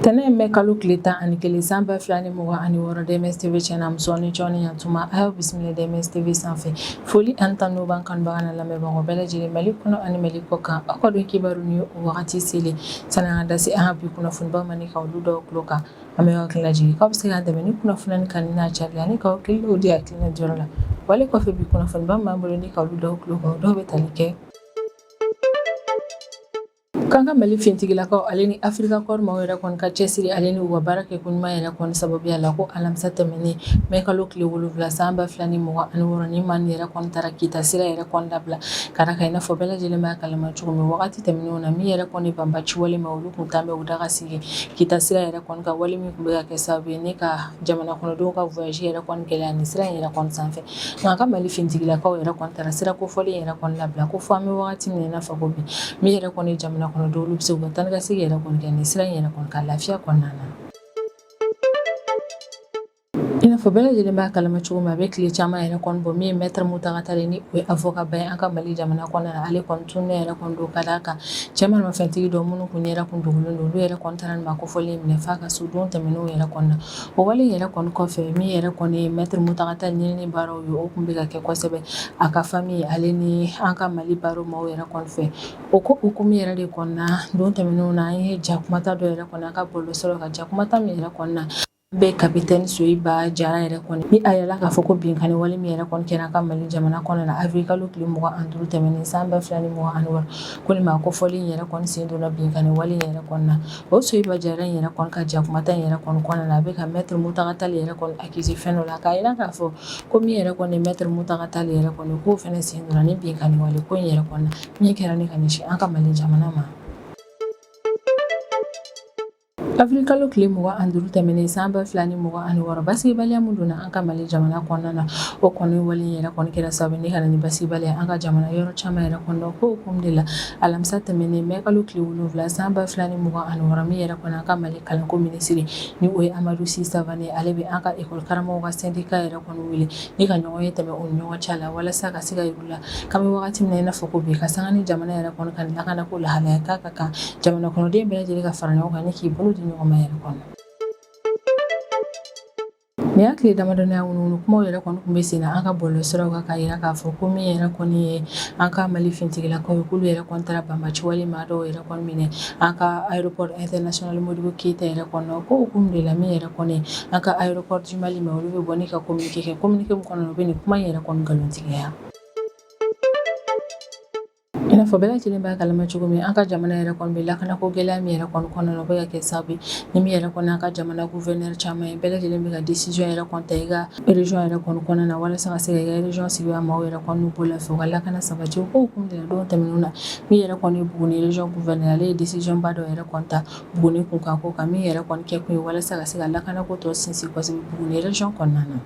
Tɛnɛn mɛ kalo tile tan ani kelen san ba fila ni mugan ani wɔɔrɔ DMS TV chaîne na musow ni cɛw ni yantuma a y'aw bisimila DMS TV sanfɛ foli ani tanu b'an kanubagaw n'an lamɛnbagaw bɛɛ lajɛlen Mali kɔnɔ ani Mali kɔ kan aw ka don kibaru ni o wagati selen sa n'an ka da se an ka bi kunnafonibaw ma ni ka olu da aw tulo kan An bɛ hakili lajigin k'aw bɛ se k'an dɛmɛ ni kunnafoni kanuni n'a cari ani k'aw hakiliw di hakilina jɔyɔrɔ la wale kɔfɛ bi kunnafoniba b'an bolo ni ka olu d'aw tulo kan dɔw bɛ tali kɛ k'an ka mali fintigilakaw ale ni afirika kɔɔri maaw yɛrɛ kɔni ka cɛsiri ale ni u ka baara kɛ ko ɲuman yɛrɛ kɔni sababuya la ko alamisa tɛmɛnen mɛ kalo tile wolonwula san ba fila ni mugan ani wɔɔrɔ nin maaw yɛrɛ kɔni taara kita sira yɛrɛ kɔni labila ka d'a kan i n'a fɔ bɛɛ lajɛlen b'a kalama cogo min wagati tɛmɛnenw na min yɛrɛ kɔni banbaci wale maaw olu tun taalen bɛ u daga sigi kita sira yɛrɛ kɔni kan wale min tun bɛ ka kɛ sababu ye ni ka jamana kɔnɔdenw ka voyage yɛrɛ kɔni gɛlɛya ni sira in yɛrɛ kɔni sanfɛ nka an ka mali fintigilakaw yɛrɛ kɔni taara sira kofɔlen yɛrɛ kɔni labila ko fɔ an bɛ wagati min na fɔ ko bi min yɛrɛ kɔni jamana kɔnɔdenw olu bɛ se u ka taa ka segin yɛrɛ kɔni kɛ ni sira in yɛrɛ kɔni kan lafiya kɔnɔna na I n'a fɔ bɛɛ lajɛlen b'a kalama cogo min a bɛ tile caman yɛrɛ kɔni bɔ min ye maitre Mountaga Tall ni o ye avocat ba ye an ka mali jamana kɔnɔna na ale kɔni tununen yɛrɛ kɔni don ka d'a kan cɛ maramafɛntigi dɔw minnu kun yɛrɛ tun dogolen don olu yɛrɛ kɔni taara nin maa kofɔlen minɛ f'a ka so don tɛmɛnenw yɛrɛ kɔni na o wale yɛrɛ kɔni kɔfɛ min yɛrɛ kɔni ye maitre Mountaga Tall ɲinini baaraw ye o tun bɛ ka kɛ kosɛbɛ a ka famille ale ni an ka mali barreau maaw yɛrɛ kɔni fɛ o ko hukumu yɛrɛ de kɔni na don tɛmɛnenw na an ye jakumata dɔ yɛrɛ kɔni an ka bɔlɔ siraw kan jakumata min yɛrɛ kɔnɔna na Bɛ ye capitaine Soyiba Jara yɛrɛ kɔni, ni a yirala k'a fɔ ko binkanni wale min yɛrɛ kɔni kɛra an ka Mali jamana kɔnɔ na avril kalo tile 25 tɛmɛnen san 2026 ko nin maa kofɔlen in yɛrɛ kɔni sen donna binkanni wale in yɛrɛ kɔni na, o Soyiba Jara in yɛrɛ kɔni ka jakumata in yɛrɛ kɔni kɔnɔna na a bɛ ka maitre Mountaga Tall yɛrɛ kɔni accuser fɛn dɔ la k'a jira k'a fɔ ko min yɛrɛ kɔni ye maitre Mountaga Tall yɛrɛ kɔni ye k'o fana sen donna ni binkanni wale ko in yɛrɛ kɔni na min kɛra ni ka ɲɛsin an ka Mali jamana ma. Avril kalo tile mugan ani duuru tɛmɛnen san ba fila ni mugan ani wɔɔrɔ basigibaliya minnu donna an ka mali jamana kɔnɔna na o kɔni wale yɛrɛ kɔni kɛra sababu ni ka na ni basigibaliya an ka jamana yɔrɔ caman yɛrɛ kɔnɔ ko hukumu de la alamisa tɛmɛnen mɛ kalo tile wolonwula san ba fila ni mugan ani wɔɔrɔ min yɛrɛ kɔni an ka mali kalanko minisiri ni o ye amadu si savane ale bɛ an ka ekɔli karamɔgɔw ka sɛndika yɛrɛ kɔni wele ni ka ɲɔgɔnye tɛmɛ u ni ɲɔgɔn cɛ la walasa ka se ka la k'an bɛ wagati min na i n'a fɔ ko bi ka sanga ni jamana yɛrɛ kɔni ka lakana ko lahalaya k'a ka kan jamana kɔnɔden bɛɛ lajɛlen ka fara ɲɔgɔn kan ni k'i bolo di ɲɔgɔn ma yɛrɛ kɔnɔ nin y'a tile damadɔnin ye wunuwunu kumaw yɛrɛ kɔni tun bɛ sen na an ka bɔlɔ siraw kan k'a yira k'a fɔ ko min yɛrɛ kɔni ye an ka mali fintigilakaw ye k'olu yɛrɛ kɔni taara banbaci wale maa dɔw yɛrɛ kɔni minɛ an ka aéroport international modibo keyita yɛrɛ kɔnɔ ko hukumu de la min yɛrɛ Kɔni an ka aéroport du Mali maaw olu bɛ bɔ ni ka communiqué kɛ communiqué min kɔnɔ u bɛ nin kuma in yɛrɛ kɔni nkalontigiya i n'a fɔ bɛɛ lajɛlen b'a kalama cogo min an ka jamana yɛrɛ kɔni bɛ lakanako gɛlɛya min yɛrɛ kɔni kɔnɔna na o bɛ ka kɛ sababu ye ni min yɛrɛ kɔni an ka jamana gouverneur caman ye bɛɛ lajɛlen bɛ ka décision yɛrɛ kɔni ta i ka région yɛrɛ kɔni kɔnɔna na walasa ka se ka i ka région sigibaa maaw yɛrɛ kɔni n'u bolo lafiya u ka lakana sabati o ko hukumu de la don tɛmɛnenw na min yɛrɛ kɔni ye Buguni région gouverneur ale ye décision ba dɔ yɛrɛ kɔni ta Buguni kunkanko kan min yɛrɛ kɔni kɛ kun ye walasa ka se ka lakanako tɔ sinsin kosɛbɛ Buguni région kɔnɔna na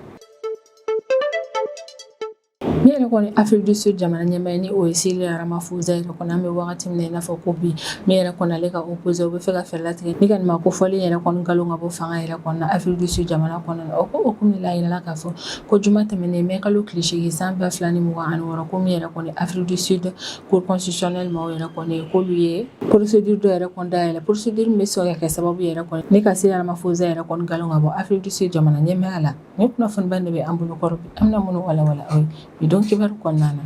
min yɛrɛ kɔni Afrique du Sud jamana ɲɛmaa ye ni o ye Cyril Ramaphosa yɛrɛ kɔni an bɛ wagati min na i n'a fɔ ko bi min yɛrɛ kɔni ale ka opposé u bɛ fɛ ka fɛɛrɛ latigɛ ni ka nin maa kofɔlen yɛrɛ kɔni nkalon ka bɔ fanga yɛrɛ kɔni na Afrique du Sud jamana kɔnɔna o ko hukumu de la a yirala k'a fɔ ko juma tɛmɛnen mai kalo tile seegin san ba fila ni mugan ani wɔɔrɔ ko min yɛrɛ kɔni Afrique du Sud cour constitutionnelle maaw yɛrɛ kɔni k'olu ye procédure dɔ yɛrɛ kɔni dayɛlɛ procédure min bɛ se ka kɛ sababu yɛrɛ kɔni ni ka Cyril Ramaphosa yɛrɛ kɔni nkalon ka bɔ Afrique du Sud jamana ɲɛmaaya la nin kunnafoniba de bɛ an bolo kɔrɔ bi an bɛna minnu walawala aw ye bi don kibaru kɔnɔna na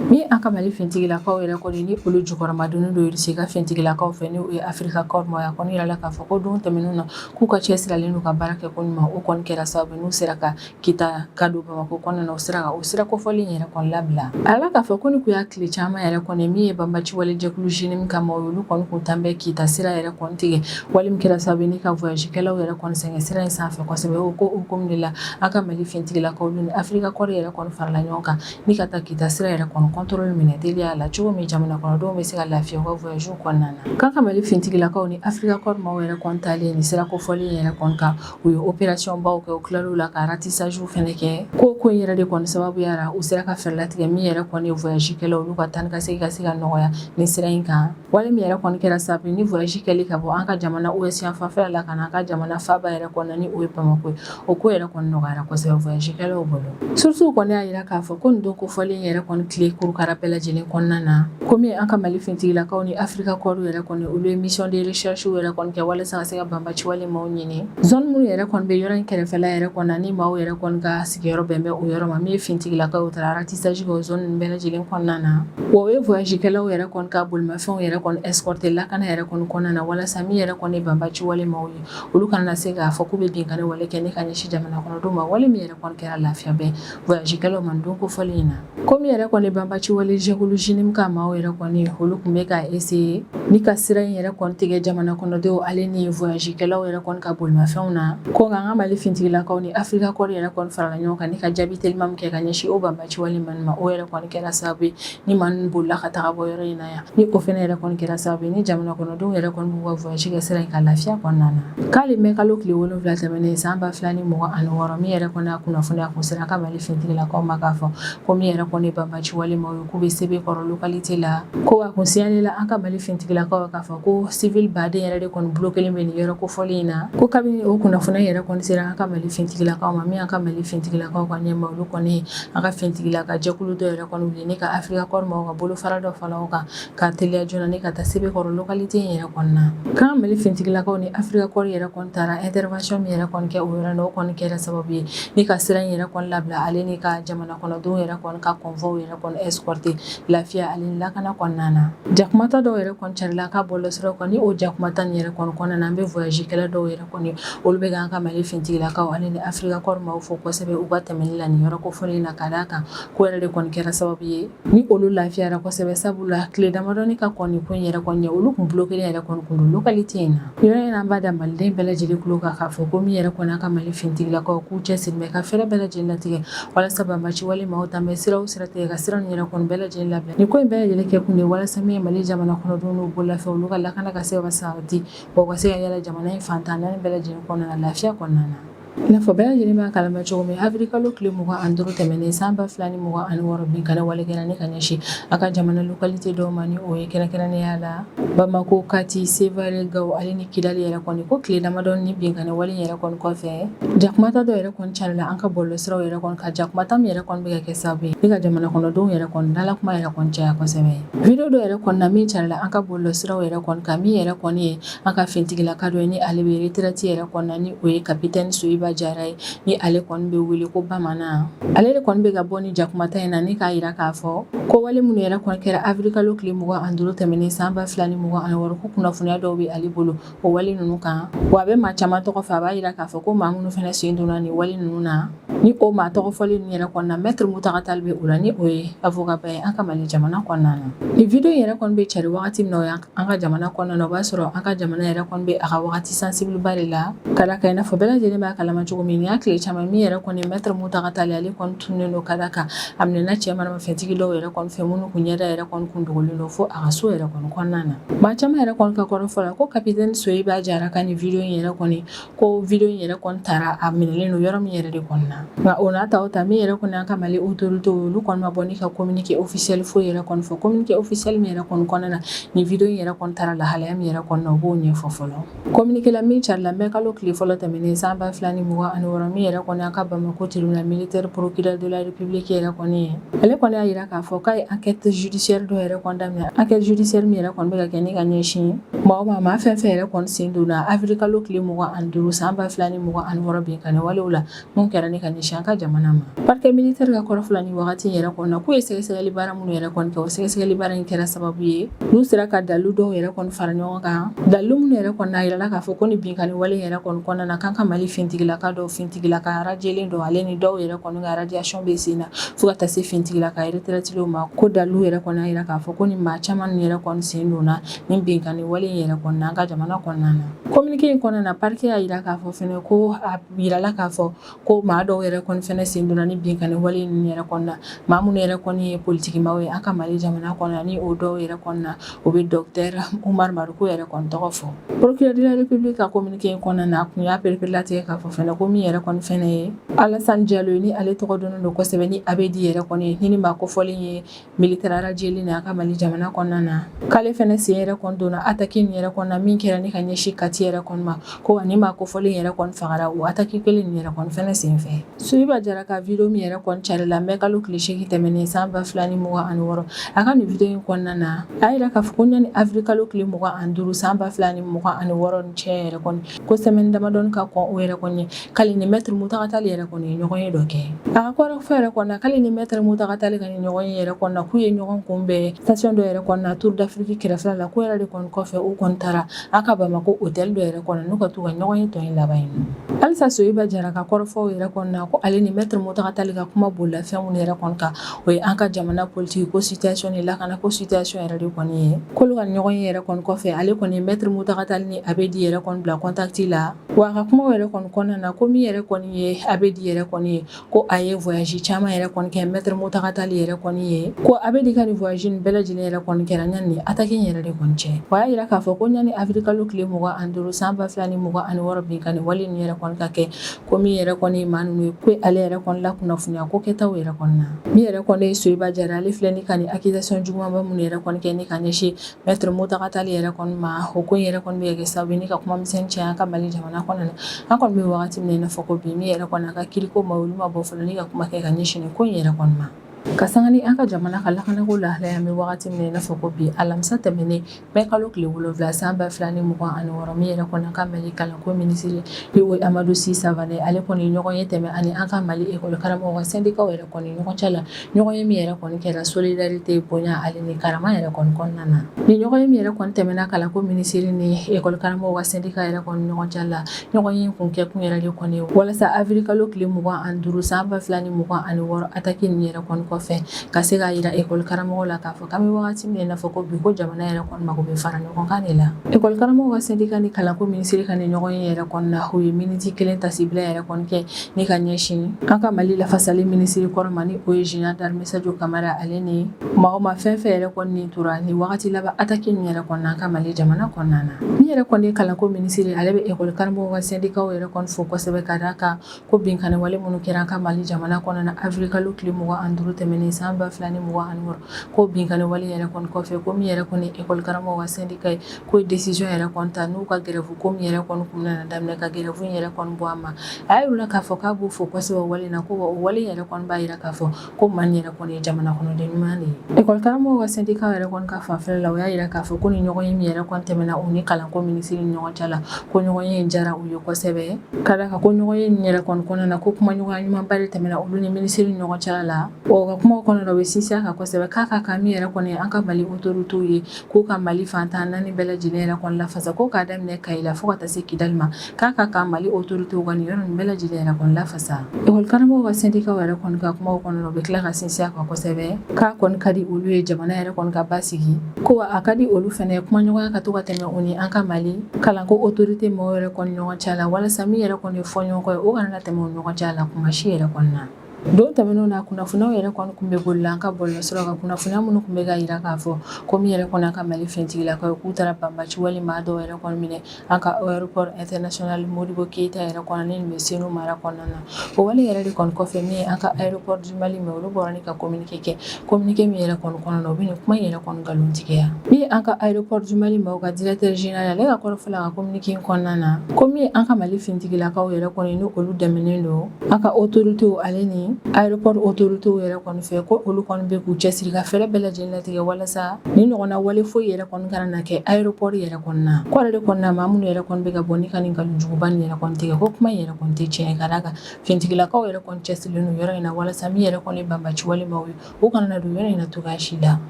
min an ka mali fintigilakaw yɛrɛ kɔni ni olu jukɔrɔmadondon Irisi ka fintigilakaw fɛ n'o ye afirika kɔri maaw ye a kɔni yirala k'a fɔ ko don tɛmɛnenw na k'u ka cɛsirilen n'u ka baara kɛ ko ɲuman o kɔni kɛra sababu n'u sera ka kita ka don bamakɔ kɔnɔna na o sira kan o sira kofɔlen in yɛrɛ kɔni labila a yirala k'a fɔ ko nin kun y'a tile caman yɛrɛ kɔni min ye banbaci wale jɛkulu JNIM ka maaw y'olu kɔni kun tan bɛ kita sira yɛrɛ kɔni tigɛ wale min kɛra sababu ni ka voyagekɛlaw yɛrɛ kɔni sɛgɛn sira in sanfɛ kosɛbɛ o ko hukumu de la an ka mali fintigilakaw ni afirika kɔri yɛrɛ kɔni farala ɲɔgɔn kan ni ka taa kita sira yɛrɛ kɔni contrôle minɛ teliya la cogo min jamana kɔnɔdenw bɛ se ka lafiya u ka voyagew kɔnɔna na k'an ka mali fintigilakaw ni afirika kɔri maaw yɛrɛ kɔni taalen nin sira kofɔlen yɛrɛ kɔni kan U ye opération baw kɛ u tilal'o la ka ratissagew fana kɛ ko ko in yɛrɛ de kɔni sababuya la u sera ka fɛɛrɛ latigɛ min yɛrɛ kɔni ye voyagekɛlaw olu ka taa ni ka segin ka se ka nɔgɔya nin sira in kan wale min yɛrɛ kɔni kɛra sababu ni voyage kɛli ka bɔ an ka jamana ouest fanfɛla la ka na an ka jamana faaba yɛrɛ kɔnɔna ni o ye bamakɔ ye o ko yɛrɛ kɔni nɔgɔyara kosɛbɛ voyagekɛlaw bolo sourcew kɔni y'a jira k'a fɔ ko nin don kofɔlen yɛrɛ kɔni tile kurukara bɛɛ lajɛlen kɔnɔna na ko komi an ka mali fintigilakaw ni afirika kɔri yɛrɛ kɔni olu ye mission de recherchew yɛrɛ kɔni kɛ walasa ka se ka ban Ci wale maaw ɲini zone minnu yɛrɛ kɔni bɛ yɔrɔ in kɛrɛfɛla yɛrɛ kɔnɔna nin maaw yɛrɛ kɔni ka sigiyɔrɔ bɛn bɛ o yɔrɔ ma min ye fintigilakaw o taara ratissage kɛ o zone ninnu bɛɛ lajɛlen kɔnɔna na wa u ye voyagekɛlaw yɛrɛ kɔni ka bolimafɛnw yɛrɛ kɔni escorter lakana yɛrɛ kɔni kɔnɔna na walasa min yɛrɛ kɔni ye banbaci wale maaw ye olu kana na se k'a fɔ k'u bɛ binkanni wale kɛ ni ka ɲɛsin jamana kɔnɔdenw ma wale min yɛrɛ kɔni kɛra lafiya ba ye voyagekɛlaw ma don kofɔlen in na komi yɛrɛ kɔni banbaci wale jɛkulu JNIM ka maaw yɛrɛ kɔni olu tun bɛ ka essayer ni ka sira in yɛrɛ kɔni tigɛ jamana kɔnɔdenw ale ni voyagekɛlaw yɛrɛ kɔni ka bolimafɛnw na ko nka an ka mali fintigilakaw ni afirika kɔri yɛrɛ kɔni farala ɲɔgɔn kan ni ka jaabi teliman kɛ ka ɲɛsin o banbaci wale maa ninnu ma o yɛrɛ kɔni kɛra sababu ye ni maa ninnu bolila ka taa bɔ yɔrɔ in na yan ni o fana yɛrɛ kɔni kɛra sababu ye ni jamana kɔnɔdenw yɛrɛ kɔni b'u ka voyage kɛ sira in kan lafiya kɔnɔna na k'ale mɛ kalo tile wolonwula tɛmɛnen san ba fila ni mugan ani wɔɔrɔ min yɛrɛ kɔni a kunnafoniya kun sera an ka mali fintigilakaw ma k'a fɔ ko min yɛrɛ kɔni banbaci wale maaw ye k'u bɛ Sebekɔrɔ localité la ko a kun signaler la an ka mali fintigilakaw k'a fɔ ko civil baden yɛrɛ de kɔni bloquer len bɛ nin yɔrɔ kofɔlen in na ko kabini o kunnafoniya yɛrɛ kɔni sera an ka mali fintigilakaw ma min an ka mali fintigilakaw ka ɲɛma olu kɔni an ka fintigilaka jɛkulu dɔ yɛrɛ kɔni wuli ne ka Africa Corps maaw ka bolofara dɔ fara o kan ka teliya joona ne ka taa Sebekɔrɔ localité yɛrɛ kɔnɔna na k'an mali fintigilakaw ni Africa Corps yɛrɛ kɔni taara intervention min yɛrɛ kɔni kɛ o yɔrɔ la o kɔni kɛra sababu ye ni ka sira in yɛrɛ kɔni labila ale ni ka jamana kɔnɔdenw yɛrɛ kɔni ka convoi yɛrɛ kɔni escorter lafiya ani lakana kɔnɔna na jakumata dɔw yɛrɛ carila ka bɔlɔ siraw kan ni o jakumata nin yɛrɛ kɔni kɔnɔna na an bɛ voyagekɛla dɔw yɛrɛ kɔni olu bɛ k'an ka Mali finitigilakaw ale ni Afrika Corps maaw fo kosɛbɛ u ka tɛmɛni la nin yɔrɔ kofɔlen in na ka d'a kan ko yɛrɛ de kɔni kɛra sababu ye ni olu lafiyara kosɛbɛ sabula tile damadɔni ka kɔn nin ko in yɛrɛ kɔni ɲɛ olu tun bloquer len yɛrɛ kɔni tun don localité in na nin yɔrɔ in na an b'a da Maliden bɛɛ lajɛlen tulo kan k'a fɔ ko min yɛrɛ kɔni an ka Mali finitigilakaw k'u cɛsiri bɛ ka fɛɛrɛ bɛɛ lajɛlen latigɛ walasa banbaciwale maaw ta mɛ sira o sira tigɛ ka sira nin yɛrɛ kɔni bɛɛ lajɛlen labila nin ko in bɛɛ lajɛlen kɛkun de ye walasa min ye Mali jamana kɔnɔdenw n'u bololafɛnw olu ka lakana ka se ka sabati U ka se ka yaala jamana in fan tan ni naani bɛɛ lajɛlen kɔnɔna na lafiya kɔnɔna na i n'a fɔ bɛɛ lajɛlen b'a kalama cogo min avril kalo tile mugan ani duuru tɛmɛnen san ba fila ni mugan ani wɔɔrɔ binkanni wale kɛra ne ka ɲɛsin an ka jamana localité dɔw ma ni o ye kɛrɛnkɛrɛnnenya la bamakɔ kati Sévaré Gao ale ni kidali yɛrɛ kɔni ko tile damadɔ nin binkanni wale yɛrɛ kɔni kɔfɛ jakumata dɔw yɛrɛ kɔni carila an ka bɔlɔ siraw yɛrɛ kɔni kan jakumata min yɛrɛ kɔni bɛ ka kɛ sababu ye ni ka jamana kɔnɔdenw yɛrɛ kɔni dala kuma yɛrɛ kɔni caya kosɛbɛ Video dɔ yɛrɛ kɔni na min carila an ka bɔlɔ siraw yɛrɛ kɔni kan min yɛrɛ kɔni ye an ka fintigilaka dɔ ye ni ale bɛ retraite yɛrɛ kɔni na ni o ye capitaine Soyiba Jara ye ni ale kɔni bɛ wele ko bamanan ale de kɔni bɛ ka bɔ ni jakumata in na ni k'a yira k'a fɔ ko wale minnu yɛrɛ kɔni kɛra avril kalo tile mugan ani duuru tɛmɛnen san ba fila ni mugan ani wɔɔrɔ ko kunnafoniya dɔw bɛ ale bolo o wale ninnu kan wa a bɛ maa caman tɔgɔ fɔ a b'a yira k'a fɔ ko maa minnu fana sen donna nin wale ninnu na ni o maa tɔgɔ fɔlen ninnu yɛrɛ kɔnɔna Maître Mountaga Tall bɛ o la ni o ye avocat ba ye an ka mali jamana kɔnɔna na nin video in yɛrɛ kɔni bɛ cari wagati min na o ye an ka jamana kɔnɔna na o b'a sɔrɔ an ka jamana yɛrɛ kɔni bɛ a ka wagati sensible ba de la ka d'a kan i n'a fɔ bɛɛ lajɛlen b'a kalama cogo min nin y'a tile caman min yɛrɛ kɔni Maître Mountaga Tall ale kɔni tunnen don ka d'a kan a minɛna cɛ Fɛntigi dɔw yɛrɛ kɔni fɛ minnu tun ɲɛda yɛrɛ kɔni tun dogolen don fo a ka so yɛrɛ kɔni kɔnɔna na, maa caman yɛrɛ kɔni ka kɔrɔ fɔ la ko capitaine Soyiba Jara ka nin video in yɛrɛ kɔni ko video in yɛrɛ kɔni tara a minɛlen don yɔrɔ min yɛrɛ de kɔni na nka o n'a ta o ta min yɛrɛ kɔni y'an ka Mali autorités ye olu kɔni ma bɔ ni ka communiqué officiel foyi yɛrɛ kɔni fɔ communiqué officiel min yɛrɛ kɔni kɔnɔna na nin video in yɛrɛ kɔni tara lahalaya min yɛrɛ kɔnɔna na u b'o ɲɛfɔ fɔlɔ Communiqué la min carila mɛ kalo tile fɔlɔ tɛmɛnen san ba 2 ni mugan ani wɔɔrɔ min yɛrɛ kɔni an ka Bamakɔ tribunal militaire procureur de la République yɛrɛ kɔni ye ale kɔni y'a yira k'a fɔ k'a ye enquête judiciaire dɔ yɛrɛ kɔni daminɛ enquête judiciaire min yɛrɛ kɔni bɛ ka kɛ ni ka ɲɛsin maa ma maa fɛn fɛn yɛrɛ kɔni sen donna avril kalo tile mugan ani duuru san ba 2 ni mugan ani wɔɔrɔ binkani wale la mun kɛra ni ka ɲɛsin an ka jamana ma parquet militaire ka kɔrɔfɔ la ni wagati yɛrɛ kɔni na k'u ye sɛgɛsɛgɛli baara minnu yɛrɛ kɔni kɛ o sɛgɛsɛgɛli baara in kɛra sababu ye n'u sera ka dalilu dɔw yɛrɛ kɔni fara ɲɔgɔn kan dalilu minnu yɛrɛ kɔni a yirala k'a fɔ ko ni binkani wale yɛrɛ kɔni kɔnɔna na k'an ka mali fintigilaka dɔw fintigilaka radiélen dɔw ale ni dɔw yɛrɛ kɔni ka radiation bɛ sen na fo ka taa se fintigilaka retraitélenw ma ko dalilu yɛrɛ kɔni y'a yira k'a fɔ ko ni maa caman ninnu yɛrɛ kɔni sen donna ni binkani wale yɛrɛ kɔni na an ka jamana kɔnɔna na communiqué in kɔnɔna na parquet y'a yira k'a fɔ fɛnɛ ko a Yirala k'a fɔ ko maa dɔw yɛrɛ kɔni fɛnɛ sen donna ni binkani wale ninnu yɛrɛ kɔni na maa minnu yɛrɛ kɔni ye politiki maaw ye an ka mali jamana kɔnɔna ni o dɔw yɛrɛ kɔni na o bɛ docteur Umar Mariko yɛrɛ kɔni tɔgɔ fɔ procureur de la République ka communiqué in kɔnɔna na a tun y'a pereperelatigɛ k'a fɔ fɛnɛ ko min yɛrɛ kɔni fɛnɛ ye Alasan Jalo ni ale tɔgɔ dɔnnen don kosɛbɛ ni Abedi yɛrɛ kɔni ni maa kofɔlen ye Militaire radiélen an ka mali jamana kɔnɔna na k'ale fɛnɛ sen yɛrɛ kɔni donna attaque nin yɛrɛ kɔnɔna min kɛra ni ka ɲɛsin Kati yɛrɛ kɔni ma ko wa ni maa kofɔlen yɛrɛ kɔni fagara o attaque kelen nin yɛrɛ kɔni fɛnɛ sen fɛ Soyiba Jara ka vidéo min yɛrɛ kɔni carila mɛ kalo tile seegin tɛmɛnen san ba fila ni mugan ani wɔɔrɔ a ka nin vidéo in kɔnɔna na a yira k'a fɔ ko ɲani avril kalo tile mugan ani duuru san ba fila ni mugan ani wɔɔrɔ ni cɛ yɛrɛ kɔni ko semaine damadɔnin ka kɔn o yɛrɛ kɔni k'ale ni maître Muntaga Tali yɛrɛ kɔni ye ɲɔgɔn ye dɔ kɛ a ka kɔrɔfɔ yɛrɛ kɔnɔ k'ale ni maître Muntaga Tali ka ni ɲɔgɔn ye yɛrɛ kɔnɔ k'u ye ɲɔgɔn kunbɛn station dɔ yɛrɛ kɔnɔ Tour d'Afrique kɛrɛfɛ la k'o yɛrɛ de kɔni kɔfɛ u kɔni taara an ka Bamakɔ hôtel dɔ yɛrɛ kɔnɔ n'u ka t'u ka ɲɔgɔn ye tɔ in laban yen halisa Soyiba Jara ka kɔrɔfɔw yɛrɛ kɔnɔ ko ale ni maître Muntaga Tali ka kuma bolila fɛn mun yɛrɛ kɔni kan o ye an ka jamana politiki ko situation ni lakana ko situation yɛrɛ de kɔni ye k'olu ka ɲɔgɔn ye yɛrɛ kɔni kɔfɛ ale kɔni maître Muntaga Tali ni Abedi yɛrɛ kɔni bila contact la wa a ka kuma yɛrɛ kɔni kɔnɔna na ko min yɛrɛ kɔni ye Abedi yɛrɛ kɔni ye ko a ye voyage caman yɛrɛ kɔni kɛ maître Muntaga Tali yɛrɛ kɔni ye ko Abedi ka ni voyage bɛɛ lajɛlen yɛrɛ kɔni kɛra ɲani attaque yɛrɛ de kɔni cɛ o y'a yira k'a fɔ ko ɲani avril kalo tile mugan ani duuru san ba 2 ni mugan ani wɔɔrɔ binkani wale ni yɛrɛ kɔni ka kɛ ko min yɛrɛ kɔni ye maa ninnu ye ko ale yɛrɛ kɔni lakunnafoniya ko kɛtaw yɛrɛ kɔni na ni yɛrɛ kɔni ye Soyiba Jara ale filɛ ni ka nin accusation jugumanba minnu yɛrɛ kɔni kɛ ni ka ɲɛsin maître Muntaga Tali yɛrɛ kɔni ma o ko yɛrɛ kɔni bɛ kɛ sa ni ka kuma misɛn caya an ka mali jamana kɔnɔna na an kɔni bɛ waati min na i n'a fɔ ko bi min yɛrɛ kɔni a ka kiiriko maaw olu ma bɔ fɔlɔ ni ka kuma kɛ ka ɲɛsin ko yɛrɛ kɔni Ka sanga ni an ka jamana ka lakanako lahalaya an bɛ wagati min na i n'a fɔ ko bi alamisa tɛmɛnen mɛ kalo tile wolonwula san ba fila ni mugan ani wɔɔrɔ min yɛrɛ kɔni an ka mali kalanko minisiri n'o ye amadu si savane ale kɔni ɲɔgɔn ye tɛmɛ ani an ka mali ekɔli karamɔgɔ ka sɛndikaw yɛrɛ kɔni ɲɔgɔn cɛ la ɲɔgɔn ye min yɛrɛ kɔni kɛra solidarite bonya ale ni karama yɛrɛ kɔni kɔnɔna na ni ɲɔgɔn ye min yɛrɛ kɔni tɛmɛna kalanko minisiri ni ekɔli karamɔgɔ ka sɛndika yɛrɛ kɔni ɲɔgɔn cɛ la Ɲɔgɔn ye kun kɛ kun yɛrɛ de kɔni walasa awirili kalo tile mugan ani duuru san ba fila ni mugan ani wɔɔrɔ ataki nin yɛrɛ kɔni kɔfɛ ka se k'a yira ekɔli karamɔgɔw la k'a fɔ k'an bɛ wagati min na i n'a fɔ ko bi ko jamana yɛrɛ kɔni mago bɛ fara ɲɔgɔnkan de la ekɔli karamɔgɔ ka sɛndika ni kalanko minisiri ka ni ɲɔgɔn ye yɛrɛ kɔnɔna na u ye miniti kelen taasibila yɛrɛ kɔni kɛ ni ka ɲɛsin an ka mali lafasali minisiri kɔrɔ ma ni o ye zenerali darime sajo kamara ale ni maa o maa fɛn fɛn yɛrɛ kɔni nin tora ni wagati laban ataki nin yɛrɛ kɔni na an ka mali jamana kɔnɔna na min yɛrɛ kɔni ye kalanko minisiri ale bɛ ekɔli karamɔgɔ ka sɛndikaw yɛrɛ kɔni fo kosɛbɛ ka d'a kan ko binkanni wale minnu kɛra an ka mali jamana kɔnɔna na awirili kalo tile mugan ani duuru tɛmɛnen san ba fila ni mugan ani wɔɔrɔ ko binkanni wale yɛrɛ kɔni kɔfɛ ko min yɛrɛ kɔni ekɔli karamɔgɔ ka sɛndika ye Ko desizɔn yɛrɛ kɔni ta n'u ka gɛrɛwu ko min yɛrɛ kɔni kun nana daminɛ ka gɛrɛwu yɛrɛ kɔni bɔ a ma a y'a yir'u la k'a fɔ k'a b'u fo kosɛbɛ wale na ko o wale yɛrɛ kɔni b'a jira k'a fɔ ko maa yɛrɛ kɔni ye jamana kɔnɔden ɲuman de ye ekɔli karamɔgɔw ka sɛndika yɛrɛ kɔni ka fanfɛ la o y'a jira k'a fɔ ko ni ɲɔgɔn ye min yɛrɛ kɔni tɛmɛna u ni kalanko minisiri ni ɲɔgɔn cɛ la ko ɲɔgɔn ye in diyara u ye kosɛbɛ ka d'a kan ko ɲɔgɔn ye yɛrɛ kɔnɔna na ko kumaɲɔgɔnya ɲumanba de tɛmɛna olu ni minisiri ni ɲɔgɔn cɛ la o ka kuma kɔnɔ u bɛ sinsin a kan kosɛbɛ k'a ka kan min yɛrɛ kɔni an ka mali otoritew ye K'u ka Mali fan tan ni naani bɛɛ lajɛlen yɛrɛ kɔni lafasa, ko k'a daminɛ Kayi la fo ka taa se Kidali ma, k'a ka kan Mali autorités ka nin yɔrɔ ninnu bɛɛ lajɛlen yɛrɛ kɔni lafasa. École karamɔgɔw ka syndicat yɛrɛ kɔni ka kumaw kɔnɔ la, u bɛ tila ka sinsin a kan kosɛbɛ, k'a kɔni ka di olu ye jamana yɛrɛ kɔni ka basigi, ko wa a ka di olu fɛnɛ ye kumaɲɔgɔnya ka to ka tɛmɛ u ni an ka Mali kalanko autorités mɔɔw yɛrɛ kɔni ɲɔgɔn cɛ la, walasa min yɛrɛ kɔni ye fɔɲɔgɔnkɔ ye, o kana na tɛmɛ u ni ɲɔgɔn cɛ la tuma si yɛrɛ kɔni na. Don tɛmɛnenw na kunnafoniyaw yɛrɛ kɔni kun bɛ boli la an ka bɔlɔlɔsiraw kan kunnafoniya minnu kun bɛ k'a yira k'a fɔ ko min yɛrɛ kɔni an ka mali finitigilakaw ye k'u taara banbaci wale maa dɔw yɛrɛ kɔni minɛ an ka ayeropɔri ɛntɛrinasonali modibɔ keyita yɛrɛ kɔnɔ ni bɛ senu mara kɔnɔna na o wale yɛrɛ de kɔni kɔfɛ min ye an ka ayeropɔri di mali maaw olu bɔra ni ka kominike kɛ kominike min yɛrɛ kɔni kɔnɔna na u bɛ kuma yɛrɛ kɔni nkalontigiya min ye an ka ayeropɔri di mali maaw ka dirɛkitɛri zenerali ale ka kɔrɔfɔ fɛ a ka kominike in kɔnɔna na ko min ye an ka mali finitigilakaw yɛrɛ kɔni ni olu dɛmɛnen don An ka otoritew ale ni ayeropɔri otoritew yɛrɛ kɔni fɛ ko olu kɔni bɛ k'u cɛ siri ka fɛɛrɛ bɛɛ lajɛlen latigɛ walasa ni ɲɔgɔn na wale foyi yɛrɛ kɔni kana na kɛ ayeropɔri yɛrɛ kɔnɔna na kɔrɔ de kɔnɔna na maa minnu yɛrɛ kɔni bɛ ka bɔ ni ka nin nkalon juguba nin yɛrɛ kɔni tigɛ ko kuma yɛrɛ kɔni tɛ tiɲɛ ye ka d'a kan finitigilakaw yɛrɛ kɔni cɛsirilen don yɔrɔ in na walasa min yɛrɛ kɔni ye banbaci wale maaw ye u kana na don yɔrɔ in na cogoya si la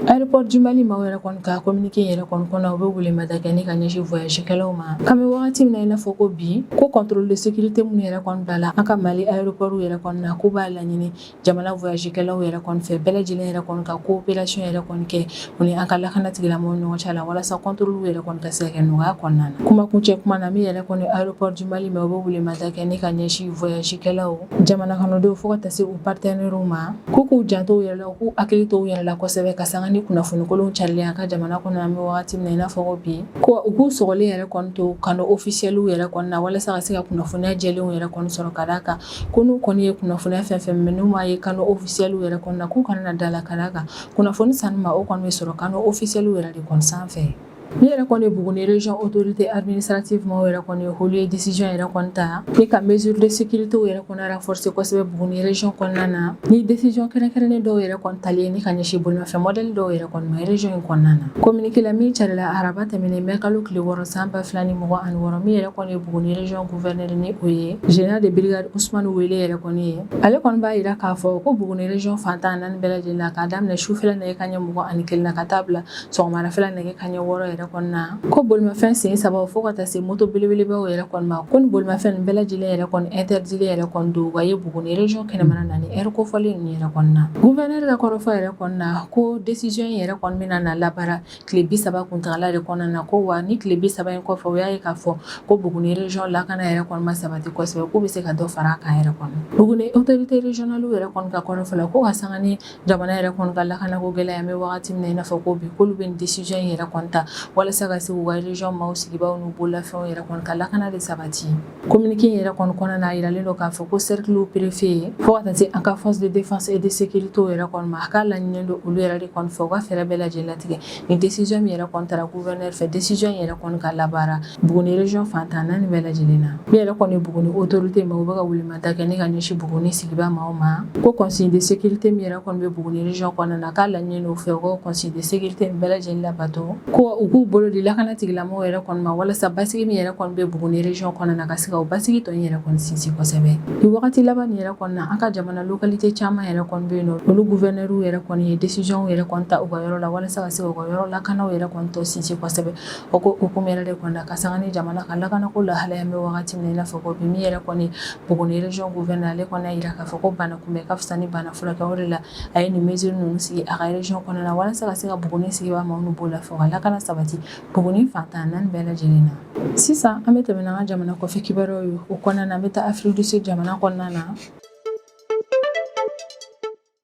aéroport du mali maaw yɛrɛ kɔni ka communiqué yɛrɛ kɔni kɔnɔ u bɛ welemada kɛ ni ka ɲɛsin voyagekɛlaw ma k'an bɛ wagati min na i n'a fɔ ko bi ko contrôle de sécurité minnu yɛrɛ kɔni bilala an ka mali aéroport yɛrɛ kɔni na k'u b'a laɲini jamana voyagekɛlaw yɛrɛ kɔni fɛ bɛɛ lajɛlen yɛrɛ kɔni ka coopération yɛrɛ kɔni kɛ U ni an ka lakana tigilamɔgɔw ni ɲɔgɔn cɛ a la walasa contrôle yɛrɛ kɔni ka se ka kɛ nɔgɔya kɔnɔna na. Kuma kuncɛ kuma na min yɛrɛ kɔni aéroport du Mali maaw u bɛ welemada kɛ ni ka ɲɛsin voyagekɛlaw, jamanakɔnɔdenw fo ka taa se u partenaires u ma, k'u k'u janto u yɛrɛ la, u k'u hakili to u yɛrɛ la kosɛbɛ ka sanga ni kunnafoni kolonw carili ye an ka jamana kɔnɔ yan an bɛ wagati min na i n'a fɔ ko bi, ko u k'u sɔgɔlen yɛrɛ kɔni to canaux officiels yɛrɛ kɔni na walasa ka se ka kunnafoniya jɛlenw yɛrɛ kɔni sɔrɔ ka d'a kan ko n'u kɔni ye kunnafoniya fɛn fɛn mɛn n'u m'a ye canaux officiels yɛrɛ kɔni na k'u kana na d'a la ka d'a kan kunnafoni sanu ma o kɔnɔ bɛ sɔrɔ kan ofisɛliw yɛrɛ de kɔnɔ sanfɛ ne yɛrɛ kɔni ye bugun reyɔn otote sati maaw yɛrɛ kɔni ye holi ye disisiyɔn yɛrɛ kɔn ta ne ka mɛsiriridsite yɛrɛ kɔnɔra fsi kosɛbɛ bugunreyɔn kɔnɔna na ni desiyɔn kɛrɛnkɛrɛnnen dɔw yɛrɛ kɔn talen ne ka ɲɛsin bolofɛ mɔden dɔw yɛrɛ kɔnɔrez in kɔnɔna na komkɛla min cɛla araraba tɛmɛnen bɛ kalo tile wɔɔrɔ san 2 ni mɔgɔ ani wɔɔrɔ min yɛrɛ kɔni ye bugunreyɔn2ɛ ni o ye zyara de birikarisuman wele yɛrɛ kɔni ye ale kɔni b'a yira k'a fɔ ko buguni région fan tan naani bɛɛ lajɛlen la k'a daminɛ sufɛla nɛgɛ kanɲɛ mugan ani kelen na ka taa bila sɔgɔmadafɛla nɛgɛ kanɲɛ wɔɔrɔ yɛrɛ kɔni na ko bolimafɛn sen saba fo ka taa se moto belebelebaw yɛrɛ kɔni ma ko nin bolimafɛn bɛɛ lajɛlen yɛrɛ kɔni interdit yɛrɛ kɔni don wa ye buguni région kɛnɛmana na nin heure kofɔlen yɛrɛ kɔni na gouverneur ka kɔrɔfɔ yɛrɛ kɔni na ko décision in yɛrɛ kɔni bɛna na labaara tile bi saba kuntaala de kɔnɔna na ko wa ni tile bi saba in kɔfɛ u y'a ye k'a fɔ ko Buguni région lakana yɛrɛ kɔni ma sabati kosɛbɛ k'u bɛ se ka dɔ fara a kan yɛrɛ kɔni Buguni autorité régionale yɛrɛ kɔni ka kɔrɔfɔ la ko ka sanga ni jamana yɛrɛ kɔni ka lakanako gɛlɛya an bɛ wagati min na i n'a fɔ ko bi k'olu bɛ nin décision in yɛrɛ kɔni ta walasa ka se k'u ka région maaw sigibaaw n'u bololafɛnw yɛrɛ kɔni ka lakana de sabati Communiqué in yɛrɛ kɔni kɔnɔna na a jiralen don k'a fɔ ko cercle préfet yen fo ka taa se an ka force de défense et de sécurité yɛrɛ kɔni ma a k'a laɲininen don olu yɛrɛ de kɔni fɛ u ka fɛɛrɛ bɛɛ lajɛlen latigɛ nin décision min yɛrɛ kɔni tara gouverneur fɛ décision in yɛrɛ kɔni ka labaara Buguni région fan tan naani bɛɛ lajɛlen na min yɛrɛ kɔni Buguni autorité maaw bɛ ka welemada kɛ ni ka ɲɛsin Buguni sigibaa maaw ma ko consigne de sécurité min yɛrɛ kɔni bɛ Buguni région kɔnɔna na a k'a laɲininen don u fɛ u ka consigne de sécurité bɛɛ lajɛlen labato ko u k'u bolo di lakana tigilamɔgɔw yɛrɛ kɔni ma walasa basigi min yɛrɛ kɔni bɛ buguni région kɔnɔna na ka se k'o basigi tɔ in yɛrɛ kɔni sinsin kosɛbɛ nin wagati laban in yɛrɛ kɔni na an ka jamana localité caman yɛrɛ kɔni bɛ yen olu gouverneurw yɛrɛ kɔni ye décisionw yɛrɛ kɔni ta u ka yɔrɔ la walasa ka se u ka yɔrɔ lakanaw yɛrɛ kɔni tɔ sinsin kosɛbɛ o ko hukumu yɛrɛ de kɔni na ka sanga ni jamana ka lakanako lahalaya an bɛ wagati min na i n'a fɔ ko bi min yɛrɛ kɔni buguni région gouverneur ale kɔni y'a jira k'a fɔ ko bana kunbɛn ka fisa ni bana furakɛli a ye nin mesure ninnu sigi a ka region kɔnɔna na walasa ka se ka Buguni sigibaa maaw n'u bololafɛnw ka lakana sabati Buguni fan tan naani bɛɛ lajɛlen na. Sisan an bɛ tɛmɛ n'an ka jamana kɔfɛ kibaruyaw ye o kɔnɔna na an bɛ taa Afrique du Sud jamana kɔnɔna na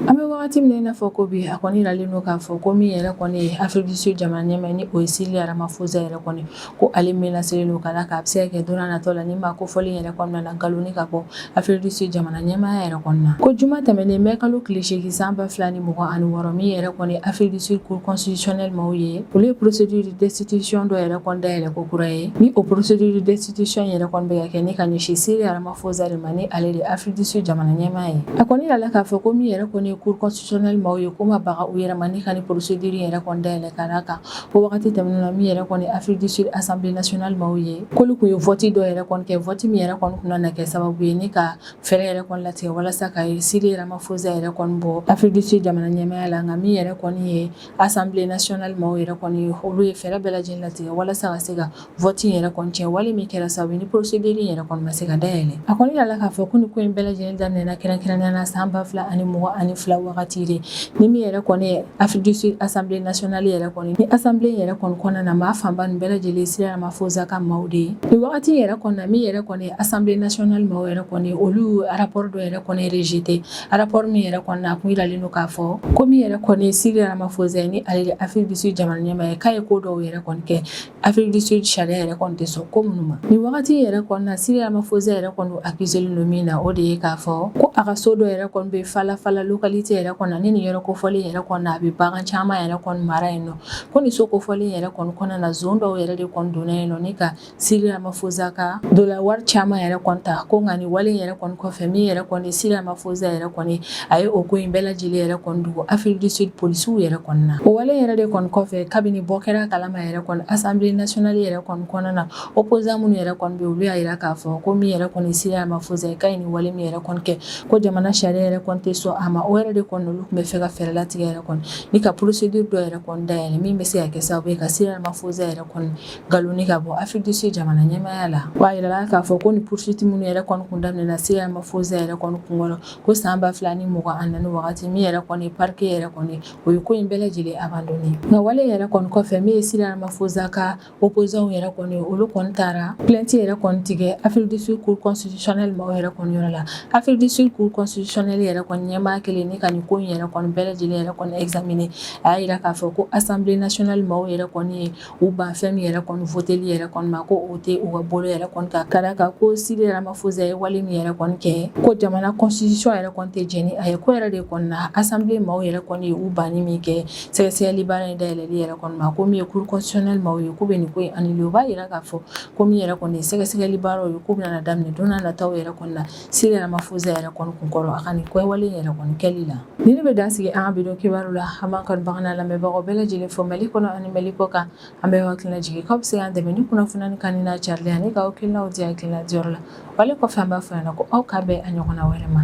an bɛ wagati min na i n'a fɔ ko bi a kɔni yiralen don k'a fɔ ko min yɛrɛ kɔni ye Afrique du Sud jamana ɲɛmaa ni o ye Cyril Ramaphosa yɛrɛ kɔni ko ale min na seli don ka k'a bɛ se kɛ don natɔ la ni ma ko fɔli yɛrɛ kɔnɔna na nkalon ka bɔ afiridusu jamana ɲɛmaya yɛrɛ kɔnɔna na ko juma tɛmɛnen bɛ kalo tilele8egin san ba fila ni mɔgɔ ani wɔɔrɔ min yɛrɛ kɔni afiridusu ko cosicɛ maaw ye olu ye psɛdi desitisiɔn dɔ yɛrɛ kɔnda yɛrɛ ko kura ye ni o porosi desitisiy yɛrɛ kɔn bɛ kɛ ne ka ɲɛsin seli ararama fɔzari ma ni ale de afiridisu jamana ɲɛmaa ye a kɔni la k'a fɔ ko min yɛrɛ kɔni ye kurusicɛ maaw ye ko ma bagan u yɛrɛ ni ka porosidiri yɛrɛ kɔnda yɛlɛ ka kan o wagati tɛmɛnen na min yɛrɛ kɔni Afrique du Sud Assemblée nationale maaw ye k'olu kun ye vote dɔ yɛrɛ kɔni kɛ vote min yɛrɛ kɔni kun na kɛ sababu ye ni ka fɛɛrɛ yɛrɛ kɔni latigɛ walasa ka Cyril Ramaphosa yɛrɛ kɔni bɔ Afrique du Sud jamana ɲɛmaya la nka min yɛrɛ kɔni ye Assemblée nationale maaw yɛrɛ kɔni olu ye fɛɛrɛ bɛɛ lajɛlen latigɛ walasa ka se ka vote in yɛrɛ kɔni tiɲɛ wale min kɛra sababu ni procédure yɛrɛ kɔni ma se ka dayɛlɛ a kɔni yirala k'a fɔ ko ni ko in bɛɛ lajɛlen daminɛna kɛrɛnkɛrɛnnenya na san ba fila ani mugan ani fila wagati de ni min yɛrɛ kɔni ye Afrique du Sud Assemblée nationale yɛrɛ kɔni ni Assemblée yɛrɛ kɔni kɔnɔna na maa fanba nin bɛɛ lajɛlen Cyril Ramaphosa ka maaw de ye ni wagati yɛrɛ kɔni na min yɛrɛ kɔni ye Assemblée nationale maaw yɛrɛ kɔni olu rapport dɔ yɛrɛ kɔni rejeté rapport min yɛrɛ kɔni na a kun yiralen don k'a fɔ ko min yɛrɛ kɔni Cyril Ramaphosa ni ale Afrique du Sud jamana ɲɛmaa ye k'a ye ko dɔw yɛrɛ kɔni kɛ Afrique du Sud sariya yɛrɛ kɔni tɛ sɔn ko minnu ma nin wagati yɛrɛ kɔni na Cyril Ramaphosa yɛrɛ kɔni accusé len don min na o de ye k'a fɔ ko a ka so dɔ yɛrɛ kɔni bɛ Phala Phala localité yɛrɛ kɔnɔ ni nin yɔrɔ kofɔlen yɛrɛ kɔnɔ a bɛ bagan caman yɛrɛ kɔni mara yen nɔ ko nin so kofɔlen yɛrɛ kɔni kɔnɔna na zon dɔw yɛrɛ de kɔni donna yen nɔ ni ka Cyril Ramaphosa ka dollar wari caman yɛrɛ kɔni ta ko nka nin wale yɛrɛ kɔni kɔfɛ min yɛrɛ kɔni Cyril Ramaphosa yɛrɛ kɔni a ye o ko in bɛɛ lajɛlen yɛrɛ kɔni dogo Afrique du Sud polisiw yɛrɛ kɔni na o wale yɛrɛ de kɔni kɔfɛ kabini bɔ kɛra a kalama yɛrɛ kɔni Assemblée nationale yɛrɛ kɔni kɔnɔna na opposant minnu yɛrɛ kɔni bɛ olu y'a jira k'a fɔ ko min yɛrɛ kɔni Cyril Ramaphosa k'a ye nin wale min yɛrɛ kɔni kɛ ko jamana sariya yɛrɛ kɔni tɛ sɔn a ma o yɛrɛ de kɔni olu tun b'a fɛ ka fɛɛrɛ latigɛ yɛrɛ kɔni ni ka procédure dɔ yɛrɛ kɔni dayɛlɛ min bɛ se ka kɛ sababu ye ka Cyril Ramaphosa yɛrɛ kɔni galon ni ka bɔ Afrique du Sud jamana ɲɛmaya la wa a jirala k'a fɔ ko ni poursuite minnu yɛrɛ kɔni kun daminɛna Cyril Ramaphosa yɛrɛ kɔni kunkɔrɔ ko san ba fila ni mugan ani naani wagati min yɛrɛ kɔni parquet yɛrɛ kɔni o ye ko in bɛɛ lajɛlen abandonné nka wale yɛrɛ kɔni kɔfɛ min ye Cyril Ramaphosa ka opposantw yɛrɛ kɔni olu kɔni taara plainte yɛrɛ kɔni tigɛ Afrique du Sud cour constitutionnelle maaw yɛrɛ kɔni yɔrɔ la Afrique du Sud cour constitutionnelle yɛrɛ kɔni ɲɛmaa kelen ni ka nin ko in yɛrɛ kɔni bɛɛ lajɛlen yɛrɛ kɔni examiner a y'a jira k'a fɔ ko Assemblée nationale maaw yɛrɛ kɔni ye U ban fɛn min yɛrɛ kɔni voteli yɛrɛ kɔni ma ko o tɛ u ka bolo yɛrɛ kan k'a la kan ko Cyril Ramaphosa ye wale min yɛrɛ kɔni kɛ ko jamana constitution yɛrɛ kɔni tɛ jɛn ni a ye k'o yɛrɛ de kɔnɔna na Assemblée maaw yɛrɛ kɔni ye u banni min kɛ sɛgɛsɛgɛli baara in dayɛlɛli yɛrɛ kɔni ma ko min ye Cour constitutionnelle maaw ye k'u bɛ nin ko in annulé u b'a jira k'a fɔ ko min yɛrɛ kɔni ye sɛgɛsɛgɛli baaraw ye k'u bɛna daminɛ don nataw yɛrɛ kɔnɔna na Cyril Ramaphosa yɛrɛ kɔni kunkɔrɔ a ka nin kɛwale yɛrɛ kɔni kɛli la nin ne bɛ dan sigi an ka bi don kibaru la an b'an kanubagaw n'an lamɛnbagaw bɛɛ lajɛlen fo mali kɔnɔ ani mali kɔ kan an b'aw hakilina jigin k'aw bɛ se k'an dɛmɛ ni kunnafoni nin kan n'a carili ani k'aw hakilinaw di hakilina diyɔrɔ la wale kɔfɛ an b'a fɔ ɲɛna ko aw ka bɛn a ɲɔgɔnna wɛrɛ ma